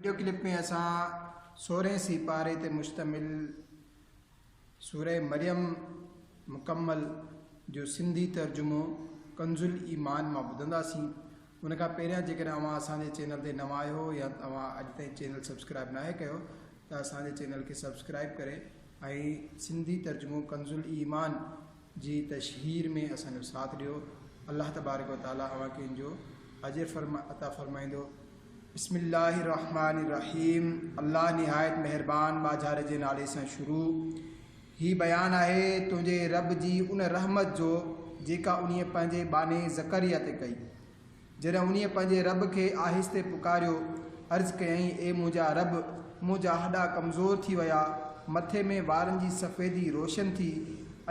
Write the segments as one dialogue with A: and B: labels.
A: Video clip ۾ اسان سورهين سيپاري تي مشتمل سوره مريم مڪمل جو سنڌي ترجمو ڪنزالايمان مان ٻڌنداسين ان کان پهريان جيڪڏهن اوهان اسان جي چينل تي نوان آهيو يا اوهان اڄ تائين چينل سبسڪرائب ناهي ڪيو ته اسان جي چينل کي سبسڪرائب ڪري ۽ سنڌي ترجمو ڪنزالايمان جي تشهير ۾ اسان جو ساٿ ڏيو الله تبارڪ و تعالي اوهان کي ان جو اجر عطا فرمائيندو بسم الله الرحمٰن الرحيم الله نهايت مهربان ماجهاري جي نالي سان شروع هي بيان آهي تنهنجي رب جي ان رحمت جو جيڪا انهيء پنهنجي ٻانهي زڪريا تي ڪئي جڏهن انهيء پنهنجي رب کي آهستي پڪاريو، عرض ڪيائين، اي منهنجا رب! منهنجا هڏا ڪمزور ٿي ويا، مٿي ۾ وارن جي سفيدي روشن ٿي،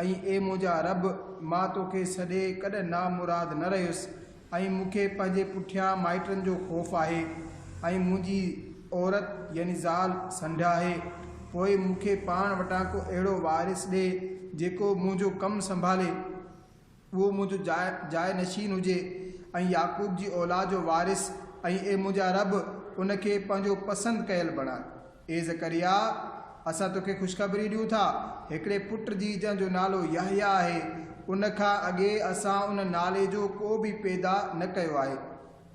A: ۽ اي منهنجا رب! مان توکي ڇڏي ڪڏهن نامراد نه رهيس، ۽ مون کي پنهنجي پٺيان مائٽن جو خوف آهي، ۽ منهنجي عورت، يعني زال، سنڍ آهي، پوء مون کي پاڻ وٽان ڪو اهڙو وارث ڏي، جيڪو منهنجو ڪم سنڀالي. اهو منهنجو جاء جاء نشين هجي ۽ يعقوب جي اولاد جو وارث ۽ اي منهنجا رب ان کي پنهنجو پسند ڪيل بڻاء. اي زڪريا! اسان توکي خوشخبري ڏيون ٿا، هڪڙي پٽ جي جنهن جو نالو يحيٰ آهي، ان کان اڳي اسان ان نالي جو ڪو به پيدا نه ڪيو آهي.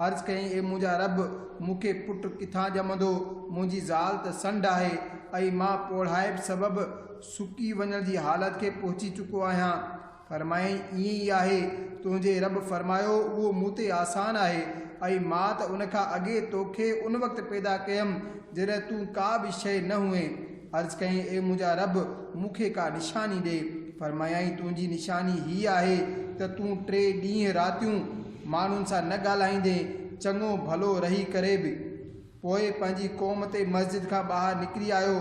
A: عرض ڪيائين اي منهنجا رب! مون کي پٽ ڪٿان ڄمندو، منهنجي زال ته سنڍ آهي ۽ مان پوڙهائپ سبب سڪي وڃڻ جي حالت کي پهچي چڪو آهيان. فرمايائين، ائين ئي آهي، تنهنجي رب فرمايو، اهو مون تي آسان آهي، ۽ مان ته ان کان اڳي توکي ان وقت پيدا ڪيم جڏهن تون ڪا به شيء نه هئين. عرض ڪيائين، اي منهنجا رب! مون کي ڪا نشاني ڏي. فرمايائين، تنهنجي نشاني هيء آهي ته تون ٽي ڏينهن راتيون ماڻهن سان نه ڳالهائيندين، چڱو ڀلو رهي ڪري به. پوء پنهنجي قوم تي مسجد کان ٻاهر نڪري آيو،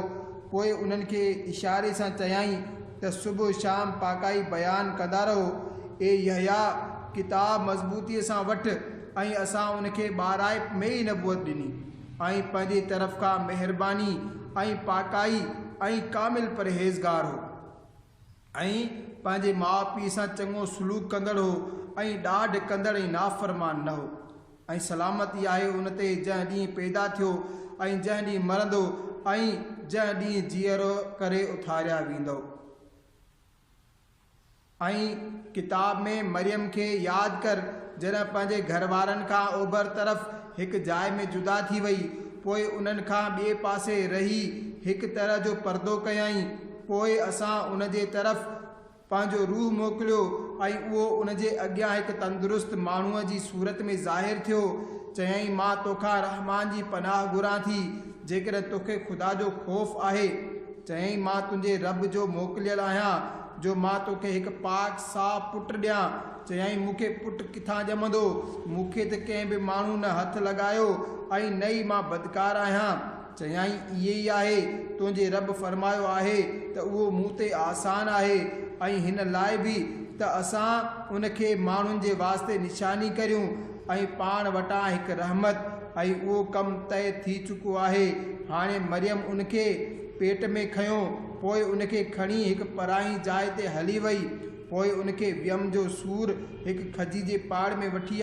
A: پوء انهن کي اشاري سان چيائين ته صبح شام پاڪائي بيان ڪندا رهو، اي يحيٰ! ڪتاب مضبوطيء سان وٺ، ۽ اسان ان کي ٻاراهپ ۾ ئي نبوت ڏني، ۽ پنهنجي طرف کان مهرباني ۽ پاڪائي ۽ ڪامل پرهيزگار هو. ۽ پنهنجي ماء پيء سان چڱو سلوڪ ڪندڙ هو ۽ ڏاڍ ڪندڙ ۽ نافرمان نه هو. ۽ سلامت ئي آهي ان تي جنهن ڏينهن پيدا ٿيو ۽ جنهن ڏينهن مرندو ۽ جنهن ڏينهن جيئرو ڪري اٿاريا ويندؤ. ۽ ڪتاب ۾ مريم کي ياد ڪر جڏهن پنهنجي گهر وارن کان اوڀر طرف هڪ جاء ۾ جدا ٿي وئي، پوء انهن کان ٻئي پاسي رهي هڪ طرح جو پردو ڪيائين، پوء اسان ان جي طرف پنهنجو روح موڪليو ۽ اهو ان جي اڳيان هڪ تندرست ماڻهوء جي صورت ۾ ظاهر ٿيو. چيائين، مان توکان رحمان جي پناهه گهران ٿي، جيڪڏهن توکي خدا جو خوف آهي. چيائين، مان تنهنجي رب جو موڪليل آهيان، جو مان توکي هڪ پاڪ صاف پٽ ڏيان. چيائين، مون کي پٽ ڪٿان ڄمندو؟ مون کي ته ڪنهن به ماڻهوء نه هٿ لڳايو ۽ نه ئي مان بدڪار آهيان. چيائين، اهي ئي آهي، تنهنجي رب فرمايو آهي ته اهو مون تي آسان آهي ۽ هن لاء به ته اسان ان کي ماڻهن جي واسطي نشاني ڪريون ۽ پاڻ وٽان هڪ رحمت ۽ اهو ڪم طئي ٿي چڪو آهي هاڻي مريم ان کي پيٽ ۾ کنيو پوء ان کي کڻي هڪ پرائين جاء تي هلي وئي پوء ان کي ويم جو سور هڪ کجي جي پاڙ ۾ وٺي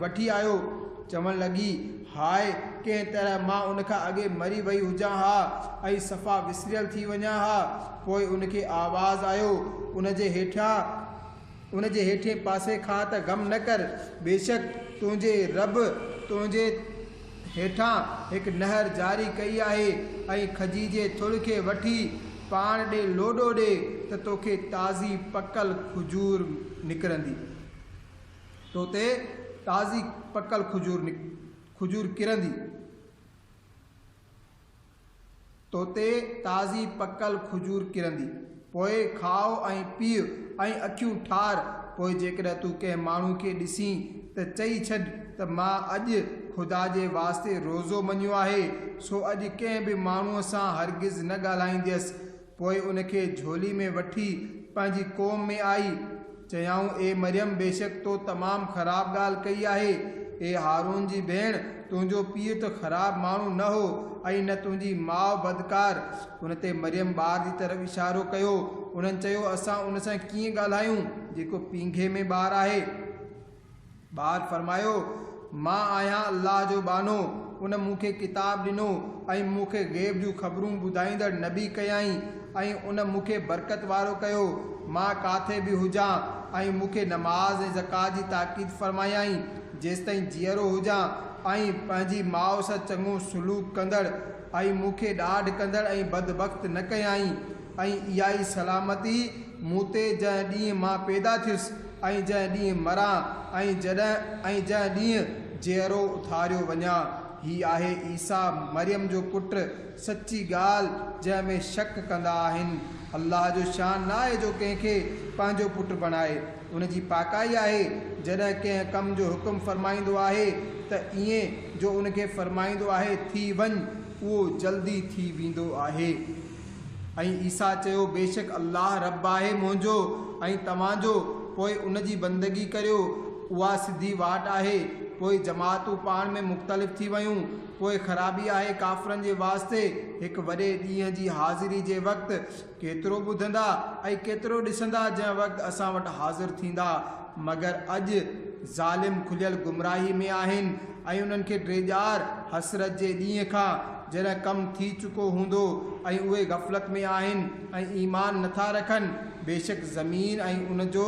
A: وٺي آيو. چوڻ لڳي، هاء، ڪنهن طرح مان ان کان اڳي مري وئي هجان ها ۽ صفا وسريل ٿي وڃان ها. پوء ان کي آواز آيو، ان جي هيٺيان ان جي هيٺئين پاسي کان ته غم نه ڪر، بيشڪ تنهنجي رب تنهنجي هيٺان هڪ نهر جاري ڪئي آهي ۽ کجي جي ٿڙ کي وٺي پاڻ ڏي لوڏو ڏي ته توکي تازي پڪل کجور نڪرندي تو تي تازي پڪل کجور کجور ڪرندي. توتي تازي پڪل کجور ڪرندي. پوء کاء ۽ پيء ۽ اکيون ٺار. پوء جيڪڏهن تون ڪنهن ماڻهو کي ڏسين ته چئي ڇڏ ته مان اڄ خدا جي واسطي روزو مڃيو آهي، سو اڄ ڪنهن به ماڻهوء سان هرگز نه ڳالهائينديس. پوء ان کي جهولي ۾ وٺي پنهنجي قوم ۾ آئي. چيائون، اي مريم! بيشڪ تو تمام خراب ڳالهه ڪئي آهي. اي هارون جي ڀيڻ! تنهنجو پيء ته خراب ماڻهو نه هو ۽ نه تنهنجي ماء بدڪار. ان تي مريم ٻار جي طرف اشارو ڪيو. انهن چيو، اسان ان سان ڪيئن ڳالهايون، جيڪو پينگهي ۾ ٻار آهي. ٻار فرمايو، مان آهيان الله جو ٻانهو، ان مون کي ڪتاب ڏنو ۽ مون کي غيب جون خبرون ٻڌائيندڙ نبي ڪيائين ۽ ان مون کي برڪت وارو ڪيو، مان ڪاٿي به هجان ۽ مون کي نماز ۽ زڪوات جي تاڪيد فرمايائين جيستائين جيئرو هجان ۽ پنهنجي ماء سان چڱو سلوڪ ڪندڙ ۽ مون کي ڏاڍ ڪندڙ ۽ بدبخت نه ڪيائين ۽ اها ئي سلامتي مون تي جنهن ڏينهن مان پيدا ٿيس. ۽ جنهن ڏينهن مران ۽ جڏهن ۽ جنهن ڏينهن جيئرو اٿاريو وڃان، هي آهي عيسيٰ مريم جو پٽ، سچي ڳالهه جنهن ۾ شڪ ڪندا آهن. الله جو شان نه آهي جو ڪنهن کي پنهنجو پٽ بڻائي. ان جي پاڪائي آهي جڏهن ڪنهن ڪم جو حڪم فرمائيندو آهي ته ائين جو ان کي فرمائيندو آهي ٿي وڃ اهو جلدي ٿي ويندو آهي. ۽ عيسيٰ چيو، بيشڪ الله ربّ آهي منهنجو ۽ توهان جو، پوء ان جي بندگي ڪريو، اها سڌي واٽ آهي، پوء جماعتون پاڻ ۾ مختلف ٿي ويون، پوء خرابي آهي ڪافرن جي واسطي، هڪ وڏي ڏينهن جي حاضري جي وقت ڪيترو ٻڌندا ۽ ڪيترو ڏسندا جنهن وقت اسان وٽ حاضر ٿيندا. مگر اڄ ظالم کليل گمراهي ۾ آهن ۽ انهن کي ڊيڄار، حسرت، جي ڏينهن کان جڏهن ڪم ٿي چڪو هوندو ۽ اهي غفلت ۾ آهن ۽ ايمان نٿا رکن، بيشڪ زمين ۽ ان جو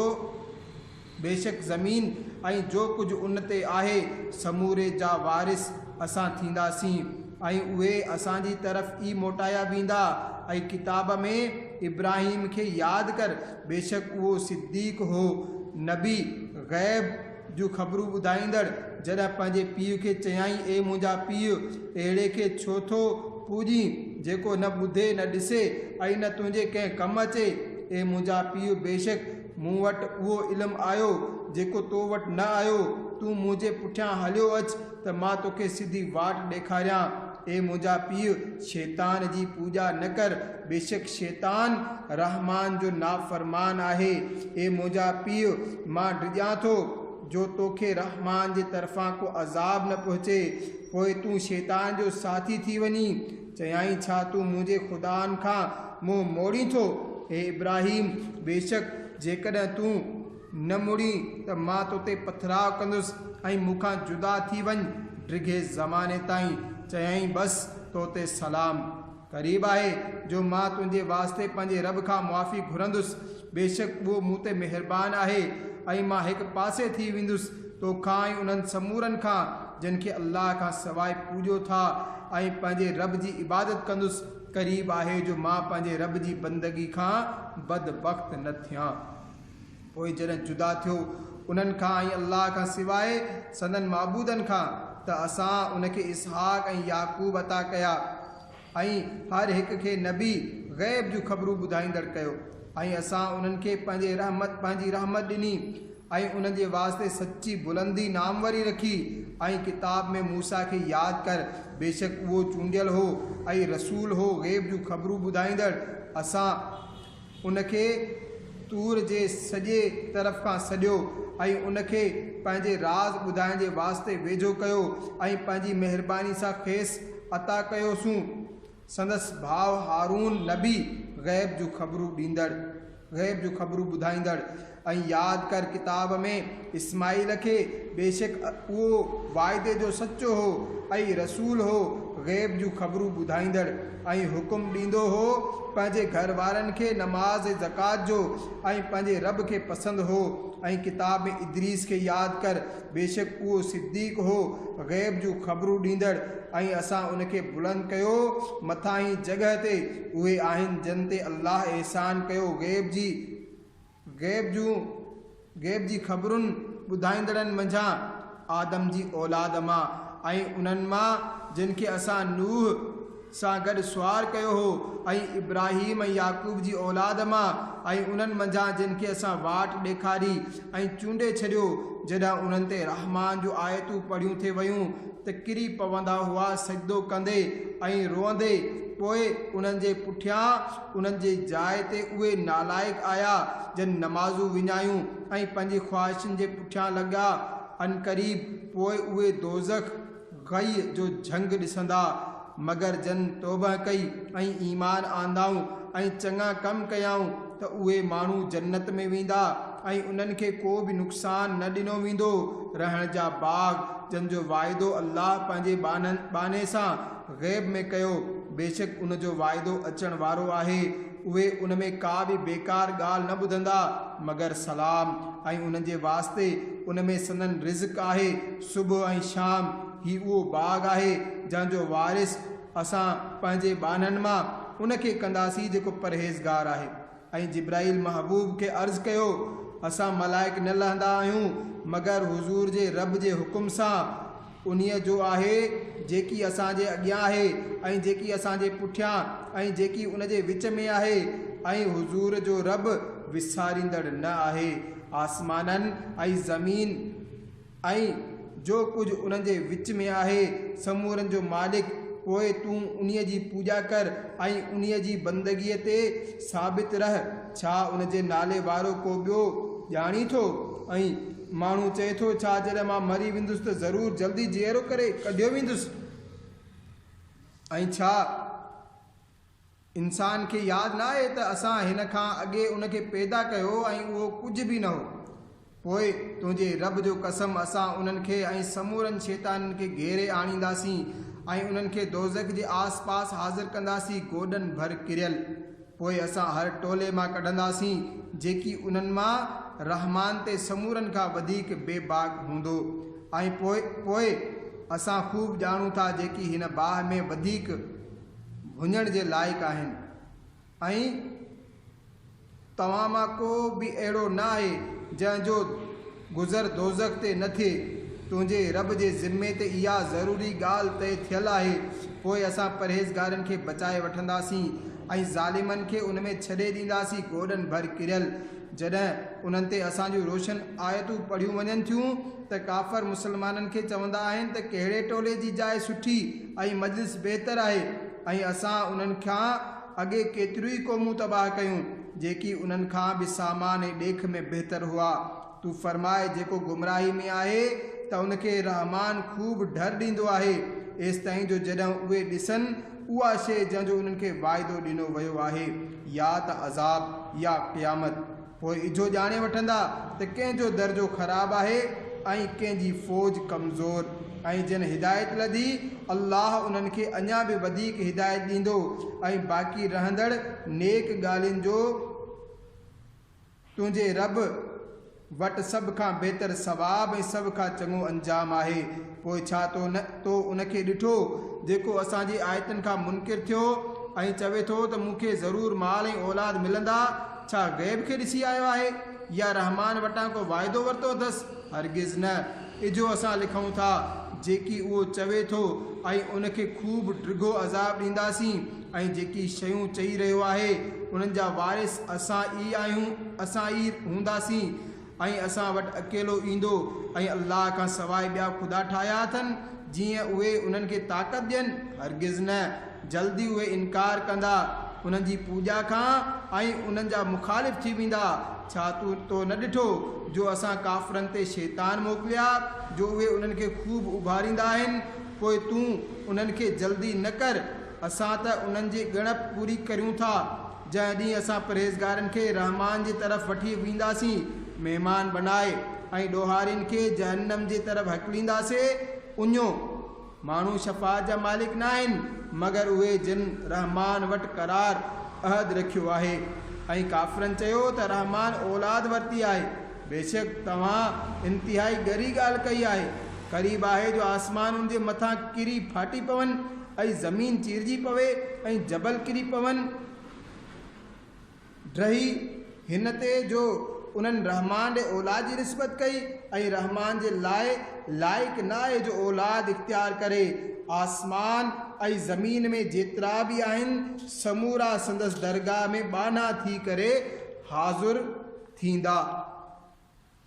A: بيشڪ زمين ۽ جو ڪجهه ان تي آهي سموري جا وارث اسان ٿينداسين ۽ اهي اسان جي طرف ئي موٽايا ويندا ۽ ڪتاب ۾ ابراهيم کي ياد ڪر بيشڪ اهو صديق هو، نبي، غيب جون خبرون ٻڌائيندڙ، جڏهن پنهنجي پيء کي چيائين، اي منهنجا پيء! اهڙي کي ڇو ٿو پوڄين، جيڪو نه ٻڌي، نه ڏسي ۽ نه تنهنجي ڪنهن ڪم اچي. اي منهنجا پيء! بيشڪ مون وٽ اهو علم آيو، جيڪو تو وٽ نه آيو، تون منهنجي پٺيان هليو اچ ته مان توکي سڌي واٽ ڏيکاريان. اي منهنجا پيء! شيطان جي پوڄا نه ڪر، بيشڪ شيطان رحمان جو نافرمان آهي. اي منهنجا پيء! مان ڊڄان ٿو جو توکي رحمان جي طرفان ڪو عذاب نه پهچي، پوء تون شيطان جو ساٿي ٿي وڃين. چيائين، ڇا تون منهنجي خدائن کان منهن موڙين ٿو؟ اي ابراهيم! بيشڪ جيڪڏهن تون. نه مڙين ته مان توتي پٿراء ڪندس ۽ مون کان جدا ٿي وڃ ڊگهي زماني تائين. چيائين بس توتي سلام. قريب آهي جو مان تنهنجي واسطي پنهنجي رب کان معافي گهرندس، بيشڪ اهو مون تي مهربان آهي ۽ مان هڪ پاسي ٿي ويندس توکان ۽ انهن سمورن کان جن کي الله کان سواء پوڄو ٿا ۽ پنهنجي رب جي عبادت ڪندس قريب آهي جو مان پنهنجي رب جي بندگي کان بدبخت نه ٿيان. پوء جڏهن جدا ٿيو انهن کان ۽ الله کان سواء سندن معبودن کان ته اسان ان کي اسحاق ۽ يعقوب عطا ڪيا ۽ هر هڪ کي نبي، غيب جون خبرون ٻڌائيندڙ، ڪيو ۽ اسان انهن کي پنهنجي رحمت، پنهنجي رحمت، ڏني ۽ انهن جي واسطي سچي بلندي، ناموري، رکي ۽، ڪتاب ۾، موسيٰ کي ياد ڪر، بيشڪ اهو چونڊيل هو ۽ رسول هو غيب جون خبرون ٻڌائيندڙ، اسان. ان کي طور جي سڄي طرف کان سڏيو ۽ ان کي پنهنجي راز ٻڌائڻ جي واسطي ويجهو ڪيو ۽ پنهنجي مهرباني سان کيس عطا ڪيوسون. سندس ڀاء هارون نبي غيب جون خبرون ڏيندڙ، غيب جون خبرون ٻڌائيندڙ، ۽ ياد ڪر ڪتاب ۾ اسماعيل کي بيشڪ اهو وعدي جو سچو هو ۽ رسول هو غيب جون خبرون ٻڌائيندڙ ۽ حڪم ڏيندو هو پنهنجي گهر وارن کي نماز ۽ زڪوات جو ۽ پنهنجي رب کي پسند هو ۽ ڪتاب ۾ ادريس کي ياد ڪر بيشڪ اهو صديق هو غيب جون خبرون ڏيندڙ ۽ اسان ان کي بلند ڪيو مٿانهين جڳهه تي اهي آهن جن تي الله احسان ڪيو غيب جي غيب جون غيب جي خبرن ٻڌائيندڙن منجهان آدم جي اولاد مان ۽ انهن مان جن کي اسان نوح سان گڏ سوار ڪيو هو ۽ ابراهيم ۽ يعقوب جي اولاد مان ۽ انهن منجهان جن کي اسان واٽ ڏيکاري ۽ چونڊي ڇڏيو جڏهن انهن تي رحمان جون آيتون پڙهيون ٿي ويون ته ڪري پوندا هئا سجدو ڪندي ۽ روئندي پوء انهن جي پٺيان انهن جي جاء تي اهي نالائق آيا، جن نمازون وڃايون ۽ پنهنجي خواهشن جي پٺيان لڳا. عنقريب پوء اهي دوزخ، غي، جو جهنگ ڏسندا. مگر جن توبهه ڪئي ۽ ايمان آندائون ۽ چڱا ڪم ڪيائون ته اهي ماڻهو جنت ۾ ويندا ۽ انهن کي ڪو به نقصان نه ڏنو ويندو، رهڻ جا باغ، جن جو واعدو الله پنهنجي ٻانهن، ٻانهي، سان، غيب ۾ ڪيو، بيشڪ ان جو واعدو اچڻ وارو آهي، اهي ان ۾ ڪا به بيڪار ڳالهه نه ٻڌندا مگر سلام، ۽ انهن جي واسطي ان ۾ سندن رزق آهي، صبح ۽ شام، هي اهو باغ آهي جنهن جو وارث، اسان، پنهنجي ٻانهن مان، ان کي ڪنداسين جيڪو پرهيزگار آهي. ۽ جبرائيل محبوب کي عرض ڪيو، اسان ملائڪ نه لهندا آهيون مگر حضور جي رب جي حڪم سان، انهيء جو آهي جيڪي اسان جي اڳيان آهي ۽ جيڪي اسان جي پٺيان ۽ جيڪي ان جي وچ ۾ آهي ۽ حضور جو رب وساريندڙ نه آهي آسمانن ۽ زمين ۽ جو ڪجهه انهن جي وچ ۾ آهي، سمورن جو مالڪ، پوء تون انهيء جي پوڄا ڪر ۽ انهيء جي بندگيء تي ثابت رهه، ڇا ان جي نالي وارو ڪو ٻيو ڄاڻين ٿو؟ ۽ ماڻهو چئي ٿو، ڇا جڏهن مان مري ويندس ته ضرور جلدي جيئرو ڪري ڪڍيو ويندس؟ ۽ ڇا؟ انسان کي ياد نه آهي ته اسان هن کان اڳي ان کي پيدا ڪيو ۽ اهو ڪجهه به نه هو. پوء تنهنجي رب جو قسم اسان انهن کي ۽ سمورن شيطانن کي گهيري آڻينداسين ۽ انهن کي دوزخ جي آس پاس حاضر ڪنداسين گوڏن ڀر ڪريل. پوء اسان هر ٽولي مان ڪڍنداسين جيڪي انهن مان، رحمان تي، سمورن کان وڌيڪ بي باڪ هوندو ۽ پوء پوء اسان خوب ڄاڻون ٿا جيڪي هن باهه ۾ وڌيڪ ڀڃڻ جي لائق آهن ۽ توهان مان ڪو به اهڙو نه آهي جنهن جو گذر دوزخ تي نه ٿئي. تنهنجي رب جي ذمي تي اها ضروري ڳالهه طئي ٿيل آهي، پوء اسان پرهيزگارن کي بچائي وٺنداسين ۽ ظالمن کي ان ۾ ڇڏي ڏينداسين گوڏن ڀر ڪريل. جڏهن انهن تي اسان جون روشن آيتون پڙهيون وڃن ٿيون ته ڪافر مسلمانن کي چوندا آهن ته ڪهڙي ٽولي جي جاء سٺي ۽ مجلس بهتر آهي ۽ اسان انهن کان اڳي ڪيتريون ئي قومون تباهه ڪيون جيڪي انهن کان به سامان ۽ ڏيک ۾ بهتر هئا تون فرماء جيڪو گمراهي ۾ آهي ته ان کي رحمان خوب ڍر ڏيندو آهي ايستائين جو جڏهن اهي ڏسن اها شيء جنهن جو انهن کي واعدو ڏنو ويو آهي يا ته عذاب يا قيامت. پوء اھو ڄاڻي وٺندا ته ڪنھن جو درجو خراب آھي ۽ ڪنھن جي فوج ڪمزور ۽ جن ھدايت لڌي الله انھن کي اڃا به وڌيڪ ھدايت ڏيندو ۽ باقي رھندڙ نيڪ ڳالھين جو تنھنجي رب وٽ سڀ کان بھتر ثواب ۽ سڀ کان چڱو انجام آھي. پوء ڇا تو نه تو ان کي ڏٺو جيڪو اسان جي آيتن کان منڪر ٿيو ۽ چوي ٿو ته مون کي ضرور مال ۽ اولاد ملندا، ڇا غيب کي ڏسي آيو آهي يا رحمان وٽان ڪو واعدو ورتو اٿس، هرگز نه، اجهو اسان لکون ٿا جيڪي اهو چوي ٿو ۽ ان کي خوب ڊگهو عذاب ڏينداسين ۽ جيڪي شيون چئي رهيو آهي انهن جا وارث اسان ئي آهيون اسان ئي هونداسين. ۽ اسان وٽ اڪيلو ايندو ۽ الله کان سواء ٻيا خدا ٺاهيا اٿن جيئن اهي انهن کي طاقت ڏين؟ هرگز نه، جلد ئي اهي انڪار ڪندا انهن جي پوڄا کان ۽ انهن جا مخالف ٿي ويندا، ڇا تون تو نه ڏٺو جو اسان ڪافرن تي شيطان موڪليا جو اهي انهن کي خوب اڀاريندا آهن، پوء تون انهن کي جلدي نه ڪر، اسان ته انهن جي ڳڻپ پوري ڪريون ٿا. جنهن ڏينهن اسان پرهيزگارن کي رحمان جي طرف وٺي وينداسين مهمان بنائي ۽ ڏوهارين کي جهنم جي طرف هڪلينداسين اڃيو، ماڻهو شفاعت جا مالڪ ناهن مگر اهي جن رحمان وٽ قرار، عهد، رکيو آهي ۽ ڪافرن چيو ته رحمان اولاد ورتي آهي، بيشڪ توهان انتهائي ڳري ڳالهه ڪئي آهي، قريب آهي جو آسمان ان جي مٿان ڪري ڦاٽي پون. اي زمين چيرجي پوي ۽ جبل ڪري پون. ڊهي هن تي جو انهن رحمان ڏي اولاد جي نسبت ڪئي ۽ رحمان جي لاء لائق نه آهي جو اولاد اختيار ڪري. آسمان ۽ زمين ۾ جيترا به آهن سمورا سندس درگاهه ۾ ٻانها ٿي ڪري حاضر ٿيندا.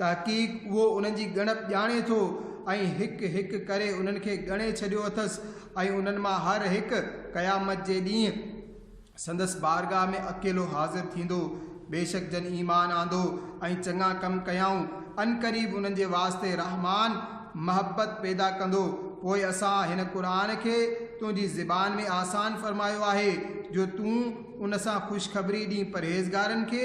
A: تحقيق اهو انهن جي ڳڻپ ڄاڻي ٿو ۽ هڪ هڪ ڪري انهن کي ڳڻي ڇڏيو اٿس ۽ انهن مان هر هڪ قيامت جي ڏينهن سندس بارگاهه ۾ اڪيلو حاضر ٿيندو بيشڪ جن ايمان آندو ۽ چڱا ڪم ڪيائون عنقريب انهن جي واسطي رحمان محبت پيدا ڪندو پوء اسان هن قرآن کي تنهنجي زبان ۾ آسان فرمايو آهي جو تون ان سان خوشخبري ڏينهن پرهيزگارن کي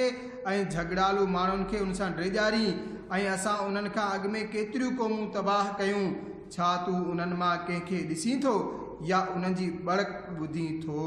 A: ۽ جهڳڙالو ماڻهن کي ان سان ڊيڄارين ۽ اسان انهن کان اڳ ۾ ڪيتريون قومون تباهه ڪيون، ڇا تون انهن مان ڪنهن کي ڏسين ٿو يا انهن جي ٻڙڪ ٻڌين ٿو؟